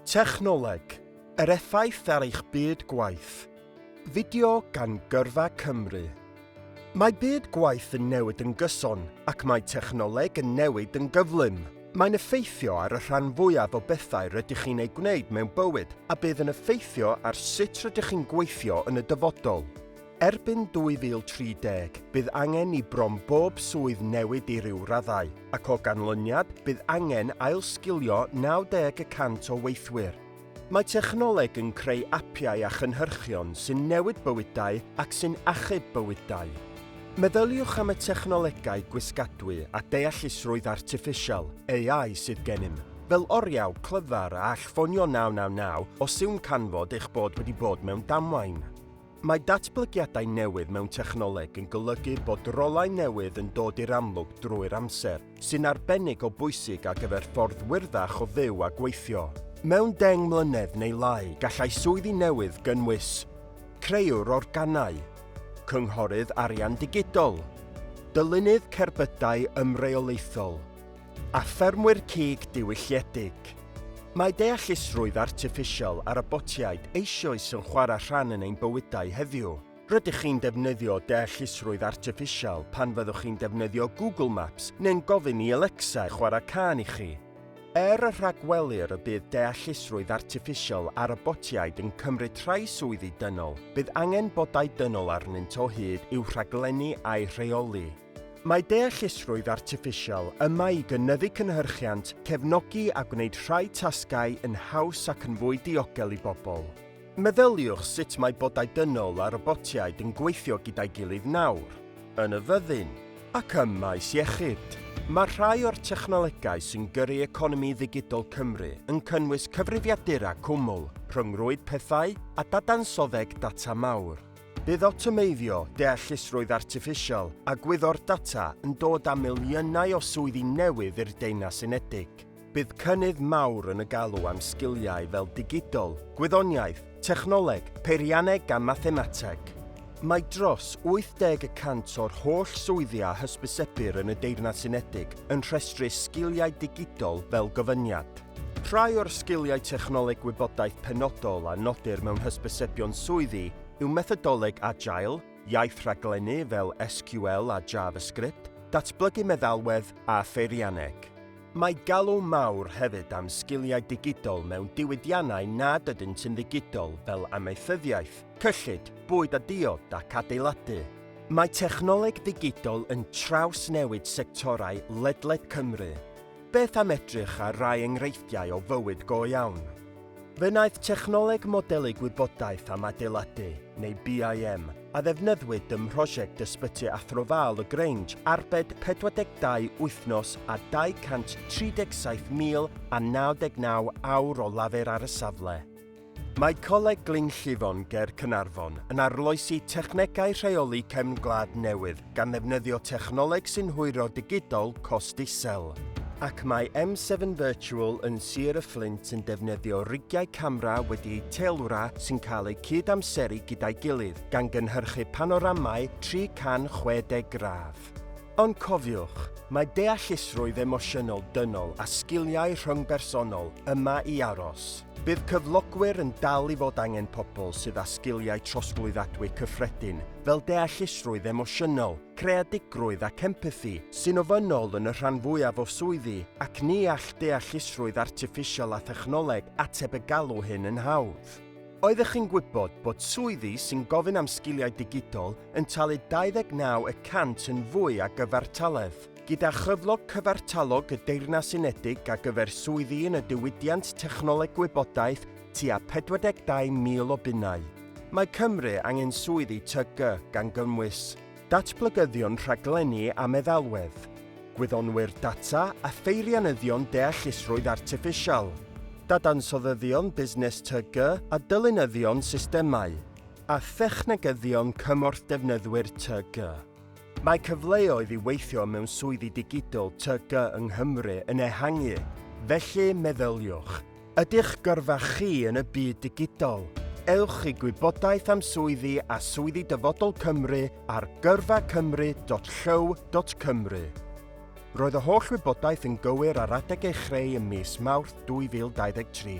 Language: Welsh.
Technoleg, yr effaith ar eich byd gwaith. Fideo gan Gyrfa Cymru. Mae byd gwaith yn newid yn gyson ac mae technoleg yn newid yn gyflym. Mae'n effeithio ar y rhan fwyaf o bethau rydych chi'n eu gwneud mewn bywyd a bydd yn effeithio ar sut rydych chi'n gweithio yn y dyfodol. Erbyn 2030, bydd angen i bron bob swydd newid i ryw raddau, ac o ganlyniad, bydd angen ailsgilio 90 y cant o weithwyr. Mae technoleg yn creu apiau a chynhyrchion sy'n newid bywydau ac sy'n achub bywydau. Meddyliwch am y technolegau gwisgadwy a deallusrwydd artiffisial, AI, sydd gennym, fel oriau clyfar a all ffonio 999 os yw'n canfod eich bod wedi bod mewn damwain. Mae datblygiadau newydd mewn technoleg yn golygu bod rolau newydd yn dod i'r amlwg drwy'r amser, sy'n arbennig o bwysig ar gyfer ffordd wyrddach o fyw a gweithio. Mewn deng mlynedd neu lai, gallai swyddi newydd gynnwys, Creuwr organau, Cynghorydd arian digidol, Dylunydd cerbydau ymreolaethol, a ffermwyr cig diwylliedig. Mae deallusrwydd artiffisial a robotiaid eisioes yn chwarae rhan yn ein bywydau heddiw. Rydych chi'n defnyddio deallusrwydd artiffisial pan fyddwch chi'n defnyddio Google Maps neu'n gofyn i Alexa chwarae cân i chi. Er y rhagwelir y bydd deallusrwydd artiffisial a robotiaid yn cymryd rhai swyddi dynol, bydd angen bodau dynol arnynt o hyd i'w rhaglennu a'u rheoli. Mae deallusrwydd artiffisial yma i gynyddu cynhyrchiant, cefnogi a gwneud rhai tasgau yn haws ac yn fwy diogel i bobl. Meddyliwch sut mae bodau dynol a robotiaid yn gweithio gyda'i gilydd nawr, yn y fyddin, ac ym maes iechyd. Mae rhai o'r technolegau sy'n gyrru economi ddigidol Cymru yn cynnwys cyfrifiadura cwmwl, rhyngrwyd pethau a dadansoddeg data mawr. Bydd awtomeiddio, deallusrwydd artiffisial a gwyddor data yn dod â miliynau o swyddi newydd i'r Deyrnas Unedig. Bydd cynnydd mawr yn y galw am sgiliau fel digidol, gwyddoniaeth, technoleg, peirianneg a mathemateg. Mae dros 80 y cant o'r holl swyddi a hysbysebir yn y Deyrnas Unedig yn rhestru sgiliau digidol fel gofyniad. Rhai o'r sgiliau technoleg gwybodaeth penodol a nodir mewn hysbysebion swyddi yw methodoleg Agile, iaith rhaglennu fel SQL a JavaScript, datblygu meddalwedd a pheirianneg. Mae galw mawr hefyd am sgiliau digidol mewn diwydiannau nad ydynt yn ddigidol fel amaethyddiaeth, cyllid, bwyd a diod ac adeiladu. Mae technoleg ddigidol yn trawsnewid sectorau ledled Cymru. Beth am edrych ar rai enghreifftiau o fywyd go iawn? Fe wnaeth Technoleg Modelu Gwybodaeth am Adeiladu, neu BIM, a ddefnyddwyd ym mhrosiect Ysbyty Athro Val y Grange arbed 42 wythnos a 237,099 awr o lafur ar y safle. Mae Coleg Glyn Llifon ger Caernarfon yn arloesi technegau rheoli cefn gwlad newydd gan ddefnyddio technoleg sy'n hwyro digidol cost isel. Ac mae M7 Virtual yn Sir y Fflint yn defnyddio rigiau camera wedi eu teilwra sy'n cael eu cyd-amseru gyda'i gilydd, gan gynhyrchu panoramau 360 gradd. Ond cofiwch, mae deallusrwydd emosiynol dynol a sgiliau rhyngbersonol yma i aros. Bydd cyflogwyr yn dal i fod angen pobl sydd â sgiliau trosglwyddadwy cyffredin fel deallusrwydd emosiynol, creadigrwydd ac empathi, sy'n ofynnol yn y rhan fwyaf o swyddi, ac ni all deallusrwydd artiffisial a thechnoleg ateb y galw hyn yn hawdd. Oeddech chi'n gwybod bod swyddi sy'n gofyn am sgiliau digidol yn talu 29 y cant yn fwy a gyfartaledd. Gyda chyflog cyfartalog y Deyrnas Unedig a gyfer swyddi yn y diwydiant technoleg gwybodaeth tua 42,000 o bunnau. Mae Cymru angen swyddi TG gan gynnwys datblygyddion rhaglenni a meddalwedd, gwyddonwyr data a pheirianyddion deallusrwydd artiffisial, dadansoddyddion busnes TG a dylunyddion systemau. a thechnegyddion cymorth defnyddwyr TG. Mae cyfleoedd i weithio mewn swyddi digidol TG yng Nghymru yn ehangu, felly meddyliwch. Ydych gyrfa chi yn y byd digidol? Ewch i gwybodaeth am swyddi a swyddi Dyfodol Cymru ar gyrfacymru.llyw.cymru. Roedd y holl wybodaeth yn gywir ar adeg ei chreu ym mis Mawrth 2023.